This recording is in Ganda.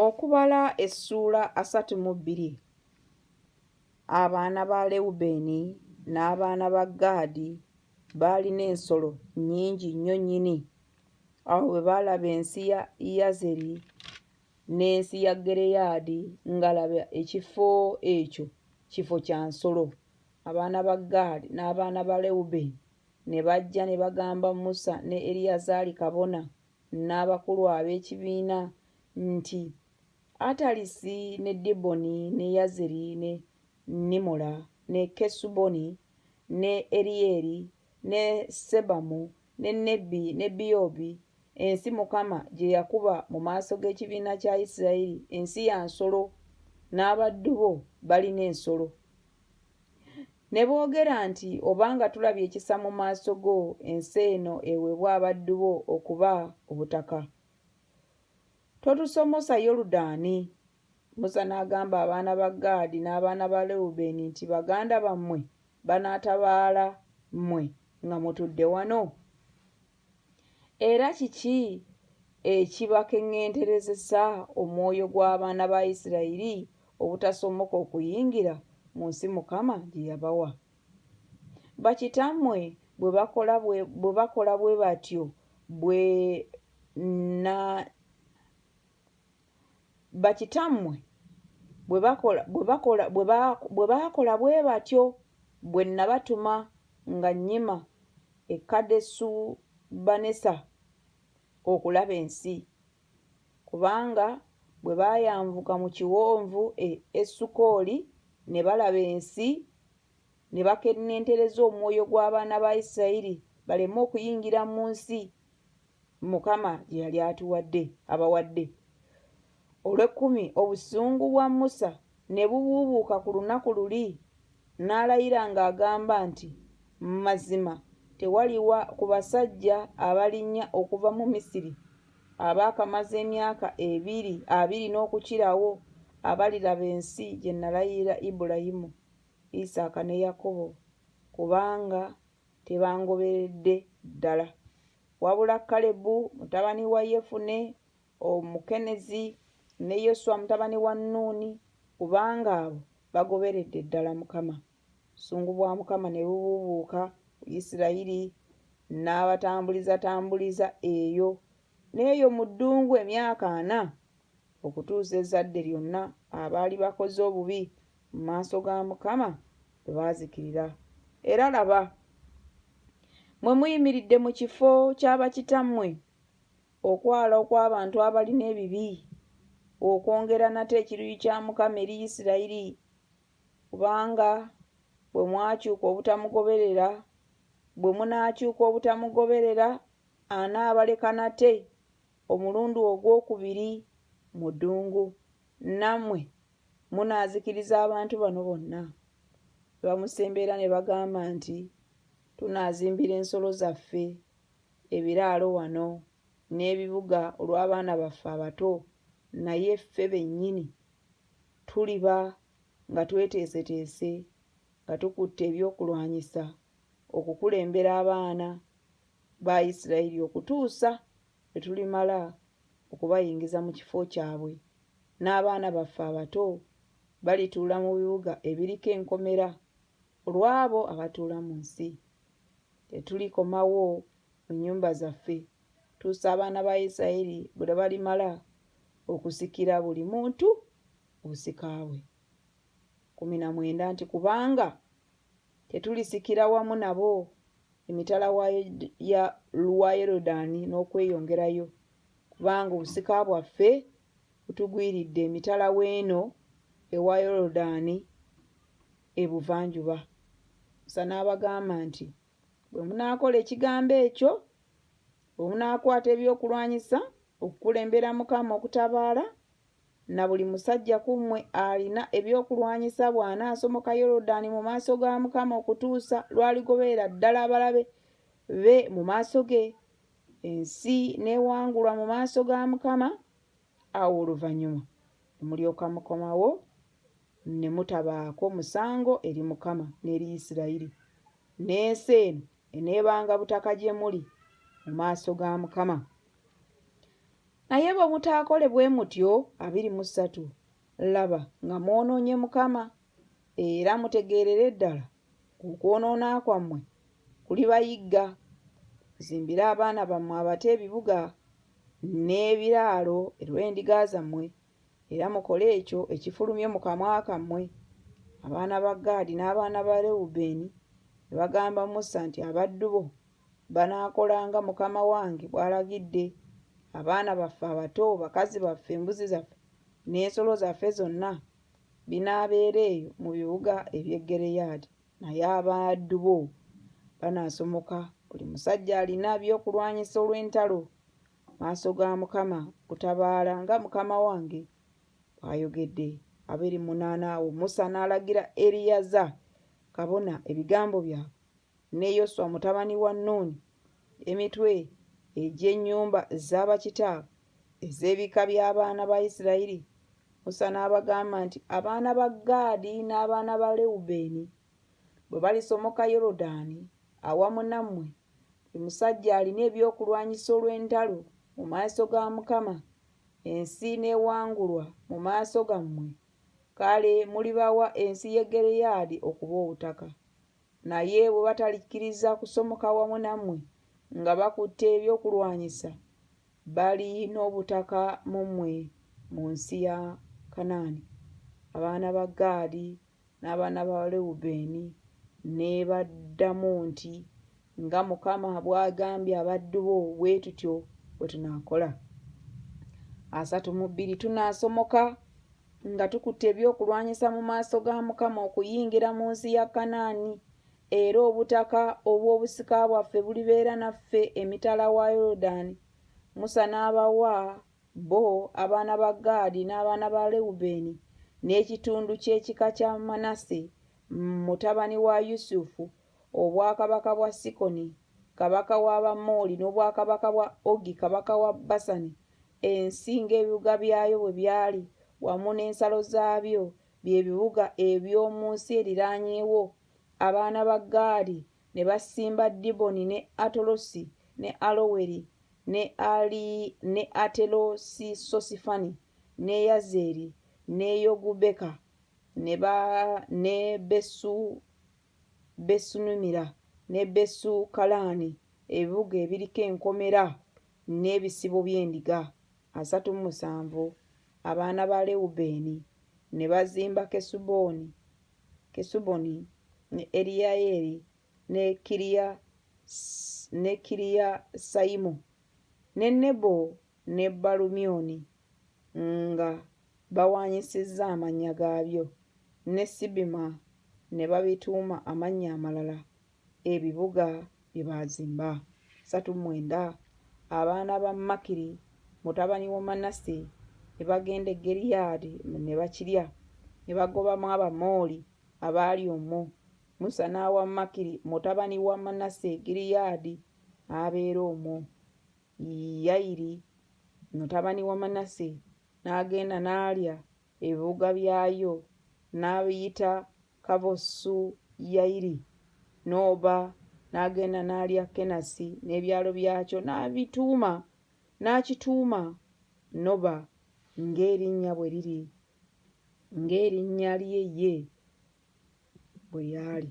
Okubala essuula asatu mu bbiri Abaana ba Lewubeeni n'abaana ba Gaadi baalina ensolo nnyingi nnyo nnyini. Awo bwe baalaba ensi ya Yazeri n'ensi ya Gireyaadi nga laba ekifo ekyo kifo kya nsolo, abaana ba Gaadi n'abaana ba Lewubeeni ne bajja ne bagamba Musa ne Eriyazaali kabona n'abakulu ab'ekibiina nti, Atalisi ne Diboni ne Yazeri ne Nimola ne Kesuboni ne Eriyeri ne Sebamu ne Nebi ne Biyobi, ensi Mukama gye yakuba mu maaso g'ekibiina kya Isirayiri, ensi ya nsolo, n'abaddu bo balina ensolo. Ne boogera nti, Obanga tulabye ekisa mu maaso go, ensi eno eweebwe abaddu bo okuba obutaka. Totusomosa Yoludaani. Musa n'agamba abaana ba Gaadi n'abaana ba Lewubeeni nti, Baganda bammwe banaatabaala mmwe nga mutudde wano? Era kiki ekibakeŋŋenterezesa omwoyo gw'abaana ba Isirayiri obutasomoka okuyingira mu nsi Mukama gye yabawa? Bakitammwe bwe bakola bwe bwe bakola bwe batyo bwe na bakitammwe bwe bakola bwe bakola bwe ba bwe baakola bwe batyo bwe nnabatuma nga nnyima e Kadesu-Banesa okulaba ensi, kubanga bwe baayanvuka mu kiwonvu e Esukoli ne balaba ensi, ne bakenentereza omwoyo gw'abaana ba Isirayiri baleme okuyingira mu nsi Mukama gye yali atuwadde abawadde. Olw'ekkumi obusungu bwa Musa ne bubuubuuka ku lunaku luli, n'alayira ng'agamba nti, Mazima tewaliwa ku basajja abalinnya okuva mu Misiri abaakamaze emyaka ebiri abiri n'okukirawo abaliraba ensi gye nalayirira Ibulayimu, Isaaka ne Yakobo, kubanga tebangoberedde ddala. Wabula Kalebu mutabani wa Yefune Omukenezi ne Yoswa mutabani wa Nuuni, kubanga abo bagoberedde ddala Mukama. Obusungu bwa Mukama ne bubuubuuka ku Isirayiri, n'abatambulizatambuliza eyo n'eyo mu ddungu emyaka ana, okutuusa ezzadde lyonna abaali bakoze obubi mu maaso ga Mukama bwe baazikirira. Era laba, mwe muyimiridde mu kifo kya bakitammwe, okwala okw'abantu abalina ebibi, okwongera nate ekiruyi kya Mukama eri Isirayiri, kubanga bwe mwakyuka obutamugoberera, bwe munaakyuka obutamugoberera, anaabaleka nate omulundi ogwokubiri mu ddungu. Namwe munaazikiriza abantu bano bonna? Ne bamusemberera ne bagamba nti, Tunaazimbira ensolo zaffe ebiraalo wano n'ebibuga olw'abaana baffe abato, naye ffe bennyini tuliba nga tweteeseteese nga tukutte ebyokulwanyisa okukulembera abaana ba Isirayiri okutuusa lwe tulimala okubayingiza mu kifo kyabwe, n'abaana baffe abato balituula mu bibuga ebiriko enkomera olw'abo abatuula mu nsi. Tetulikomawo mu nnyumba zaffe tuusa abaana ba Isiraeri bwe balimala okusikira buli muntu obusika bwe. kumi na mwenda nti kubanga Tetulisikira wamu nabo emitala wa Yorudaani n'okweyongerayo, kubanga obusika bwaffe butugwiridde emitala w'eno ewa Yorudaani ebuvanjuba. Musa n'abagamba nti, Bwe munaakola ekigambo ekyo, bwe munaakwata ebyokulwanyisa okukulembera Mukama okutabaala, Na buli musajja ku mmwe alina ebyokulwanyisa bw'anaasomoka Yoludaani mu maaso ga Mukama okutuusa lw'aligoberera ddala abalabe be mu maaso ge, ensi n'ewangulwa mu maaso ga Mukama, awo oluvannyuma ne mulyoka mukomawo ne mutabaako musango eri Mukama n'eri Yisirayiri, n'ensi eno eneebanga butaka gye muli mu maaso ga Mukama. Naye bwe mutaakole bwe mutyo, abiri mu ssatu, laba, nga mwonoonye Mukama, era mutegeerere ddala okwonoona kwammwe kulibayigga. Muzimbire abaana bammwe abato ebibuga n'ebiraalo, erw'endiga zammwe era mukole ekyo ekifulumye mu kamwa kammwe. Abaana ba Gaadi n'abaana ba Rewubeeni ne bagamba Musa nti, Abaddu bo banaakola nga mukama wange bw'alagidde. Abaana baffe abato, bakazi baffe, embuzi zaffe n'ensolo zaffe zonna binaabeera eyo mu bibuga eby'e Gireyaadi, naye abaddu bo banaasomoka, buli musajja alina by'okulwanyisa olw'entalo maaso ga Mukama kutabaala nga mukama wange bw'ayogedde. Abiri munaana awo Musa n'alagira Eriyaza kabona ebigambo byabwe ne Yoswa mutabani wa Nuuni emitwe egy'ennyumba za bakitaabwe ez'ebika by'abaana ba Isirayiri. Musa n'abagamba nti, Abaana ba Gaadi n'abaana ba Lewubeeni Bwe balisomoka Yoludaani awamu nammwe, buli musajja alina ebyokulwanyisa olw'entalo mu maaso ga Mukama, ensi n'ewangulwa mu maaso gammwe, kale mulibawa ensi y'e Gireyaadi okuba obutaka. Naye bwe batalikkiriza kusomoka wamu nammwe nga bakutte ebyokulwanyisa, bali n'obutaka mu mmwe mu nsi ya Kanaani. Abaana ba Gaadi N'abaana ba Lewubeeni ne baddamu nti, Nga Mukama bw'agambye abaddu bo, bwe tutyo bwe tunaakola. Asatu mu bbiri tunaasomoka nga tukutte ebyokulwanyisa mu maaso ga Mukama okuyingira mu nsi ya Kanaani, era obutaka obw'obusika bwaffe bulibeera naffe emitala wa Yoludaani. Musa n'abawa Bo abaana ba Gaadi n'abaana ba Lewubeeni n'ekitundu ky'ekika kya Manase, mutabani wa Yusufu, obwakabaka bwa Sikoni kabaka w'Abamooli n'obwakabaka bwa Ogi kabaka wa Basani, ensi ng'ebibuga byayo bwe byali, wamu n'ensalo zaabyo, bye bibuga eby'omu nsi eriraanyeewo. Abaana ba Gaadi ne basimba Diboni ne Atolosi ne Aloweri, ne Ali, ne Atelosisosifani, ne Yazeri, ne Yogubeka, ne ba, ne Besu, Besunimira, ne Besu Kalaani, ebibuga ebiriko enkomera n'ebisibo by'endiga, asatu mu musanvu. Abaana ba Lewubeeni ne bazimba Kesuboni, Kesuboni, ne Eriyayeeri, ne kiriya ne kiriya sayimu ne nebo ne balumyoni nga bawaanyisizza amannya gaabyo ne sibima ne babituuma amannya amalala ebibuga bye baazimba satu mwenda abaana ba makiri mutabani wa manase ne bagenda e geriyaadi ne bakirya ne bagobamu abamooli abaali omwo Musa n'awa Makiri mutabani wa Manase Gileyaadi abeera omwo. Yayiri mutabani wa Manase n'agenda n'alya ebibuga byayo n'abiyita Kavosu Yayiri, n'oba n'agenda n'alya Kenasi n'ebyalo byakyo n'abituuma n'akituuma Noba ng'erinnya bwe liri ng'erinnya lye ye bwe lyali.